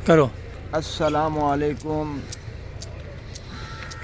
کرو السلام علیکم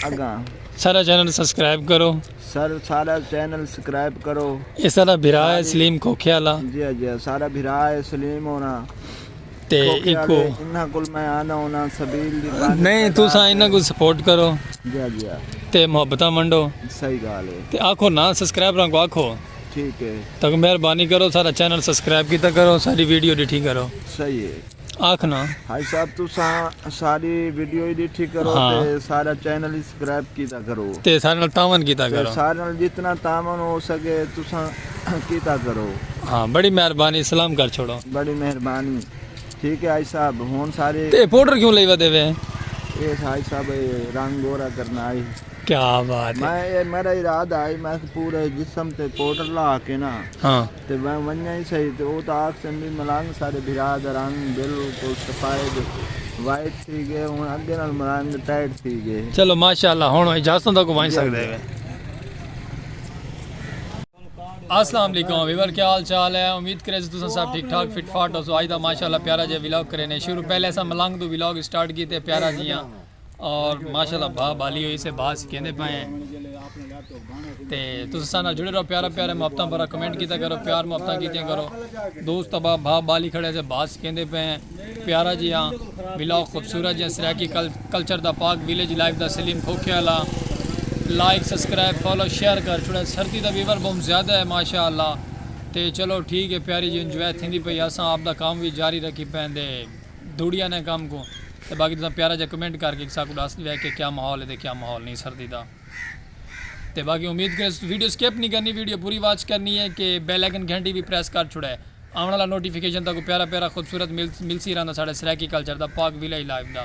اگاں سارا چینل سبسکرائب کرو سر سارا چینل سبسکرائب کرو یہ سارا بھرا ہے سلیم کوکھے والا جی جی سارا بھرا ہے سلیم ہونا تے ایکو انہاں کول میں آنا ہونا سبیل دی نہیں تو سا انہاں کو سپورٹ کرو جی جی تے محبتاں منڈو صحیح گال ہے تے آکھو نا سبسکرائب رنگو آکھو ٹھیک ہے تاکہ مہربانی کرو سارا چینل سبسکرائب کیتا کرو ساری ویڈیو ڈٹھی کرو صحیح ہے آکھنا حاج صاحب تساں ساری ویڈیو ہی ڈٹھی کرو ہاں۔ تے سارا چینل ہی سبسکرائب کیتا کرو تے سارے نال تعاون کیتا تے کرو سارے نال جتنا تعاون ہو سکے تساں کیتا کرو ہاں بڑی مہربانی سلام کر چھوڑو بڑی مہربانی ٹھیک ہے حاج صاحب ہن سارے تے پاؤڈر کیوں لئی ودے وے اے حاج صاحب اے رنگ گورا کرنا آئی کیا بات ہے میں اے میرا ارادہ ہئی میں اس پورے جسم تے پوڈر لا کے نا ہاں تے میں ونجاں ہی سہی تے او تاں آکھسن وی ملنگ ساڈے بھرا دا رنگ بالکل سفید وائٹ تھی گئے ہن اگے نال ملنگ ٹائٹ تھی گئے چلو ماشاءاللہ ہن اجازت ہوندا کو ونج سکدے وے السلام علیکم ویور کیا حال چال ہے امید کرے سے تساں سب ٹھیک ٹھاک فٹ فاٹ ہو سو آج دا ماشاءاللہ پیارا جے ولاگ کرے نے شروع پہلے اساں ملنگ تو ولاگ سٹارٹ کیتے پیارا جیاں اور ماشاءاللہ بھا بالی ہوئی سے بھا سکھیندے پائے ہیں تے تسا سانا جڑے رہو پیارا پیارے محبتاں پر کمنٹ کیتا کرو پیار محبتاں کیتے کرو دوست ابا بھا بالی کھڑے سے بھا سکھیندے پائے ہیں پیارا جی ہاں بلا خوبصورت جی ہاں سرائیکی کلچر دا پاک ویلیج لائف دا Salim Khokhe Wala like subscribe follow share کر چھوڑے سردی دا ویور بہت زیادہ ہے ماشاءاللہ تے چلو ٹھیک ہے پیاری جی انجوائے تھیندی پئی اساں آپ دا کام بھی جاری رکھی پہن دے دوڑیا نے کم کوں تے باقی تساں پیارا جا کمنٹ کر کے ساکوں ڈس ڈیوے کہ کیا ماحول ہے تے کیا ماحول نہیں سردی دا تے باقی امید کریں ویڈیو سکپ نہیں کرنی ویڈیو پوری واچ کرنی ہے کہ بیل آئیکن گھنٹی بھی پریس کر چھڑے آون والا نوٹیفیکیشن تاکوں پیارا پیارا خوبصورت ملسی رہندا ساڈے سرائیکی کلچر دا پاک ویلیج لائف دا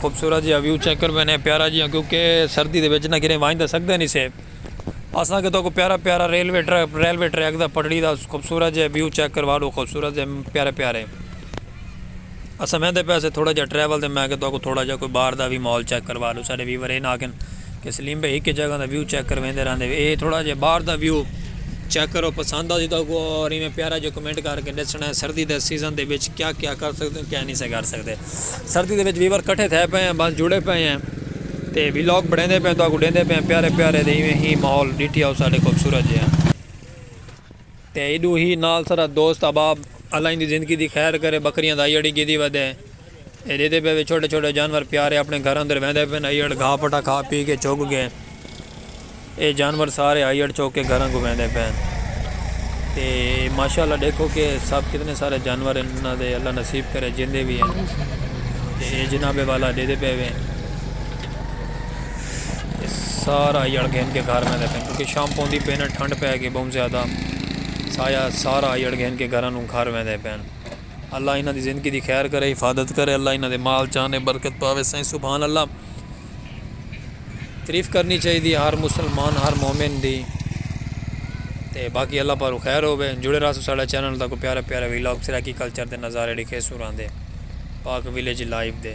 خوبصورت جیہاں ویو چیک کر وینے پیارا جیہاں کیونکہ سردی دے وچ نہ کیرے ونج دا سکدا نہیں سے اساں کے توکو پیارا پیارا ریلوے ٹریک ریلوے ٹریک دا پٹڑی دا خوبصورت جیہاں ویو چیک کر واڈو خوبصورت جے پیارے پیارے اساں ویندے پیسے تھوڑا جیہاں ٹریول دے میں کے توکو تھوڑا جیہاں کوئی باہر دا وی ماحول چیک کر واڈو سارے ویور اے نہ آکھن۔ کہ سلیم بھائی ہک جگہ دا ویو چیک کرویندے رہندے وے اے تھوڑا جے باہر دا ویو چیک کرو پسند آسی تہاکوں اور ایویں پیارا جے کمنٹ کر کے ڈسنا ہے سردی دے سیزن دے وچ کیا کیا کر سکدے ہو کیا نی سے کر سکدے سردی دے وچ ویور کٹھے تھے پئے ہیں بس جڑے پئے ہیں تے ولاگ بنیندے پئے ہیں تہاکوں ڈیندے پئے ہیں پیارے پیارے دے ایویں ہی ماحول ڈیٹھی آؤ ساڈے خوبصورت جے ہیں۔ تے ایڈو ہی نال سرا دوست احباب اللہ ایندی زندگی دی خیر کرے بکریاں دا ایڑ ہی گیدی ودے اے ڈیدے پے وے چھوٹے چھوٹے جانور پیارے اپنے گھر اندر ویندے پن ایڑ گھا پٹا کھا پی کے چگ گے اے جانور سارے ایڑ چگ کے گھراں کو ویندے پن تے ماشاءاللہ ڈیکھو کے سب کتنے سارے جانور ہیں انہاں دے اللہ نصیب کرے جیندے وی ہیں تے اے جناب والا ڈیدے پے وے۔ سارا آئی اڑ گھن کے گھر میں دیکھیں کیونکہ شام پوندی پین ٹھنڈ پہ گئی بہت زیادہ سایا سارا آئی اڑ گھن کے گھر انہوں گھر میں دے پین اللہ انہاں دی زندگی دی خیر کرے حفاظت کرے اللہ انہاں دے مال چانے برکت پاوے سائیں سبحان اللہ تریف کرنی چاہی دی ہر مسلمان ہر مومن دی تے باقی اللہ پارو خیر ہوئے جڑے راسو ساڑھا چینل دا کو پیارا پیارا ویلاگ سراکی کلچر دے نظارے ڈکھے سوران دے پاک ویلیج لائیو دے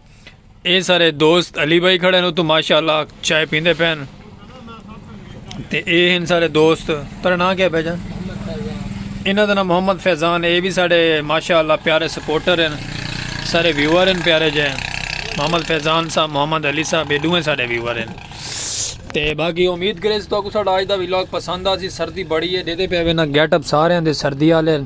اے سارے دوست علی بھائی کھڑے ہیں تو ماشاءاللہ چائے پیندے پین تے اے ہیں سارے دوست تر نہ کیا بھیجا انہاں دا نام محمد فیضان اے بھی سارے ماشاءاللہ پیارے سپورٹر ہیں سارے ویور ہیں پیارے جے محمد فیضان صاحب محمد علی صاحب اے دوئے سارے ویور ہیں تے باقی امید کرے تو کو سارا آج دا ویلاگ پسند آ سی سردی بڑی ہے دے دے پہ وینا گیٹ اپ سارے ہیں دے سردی آلے ہیں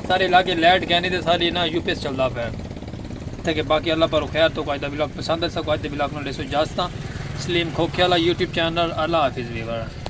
سارے علاقے لائٹ کینی تے ساری نا یو پی ایس چلدا پے تے کہ باقی اللہ پر خیر تو کو اج دا ولاگ پسند ہے سکو اج دے ولاگ نو لیسو جاستاں سلیم کھوکھے والا یوٹیوب چینل اللہ حافظ ویور۔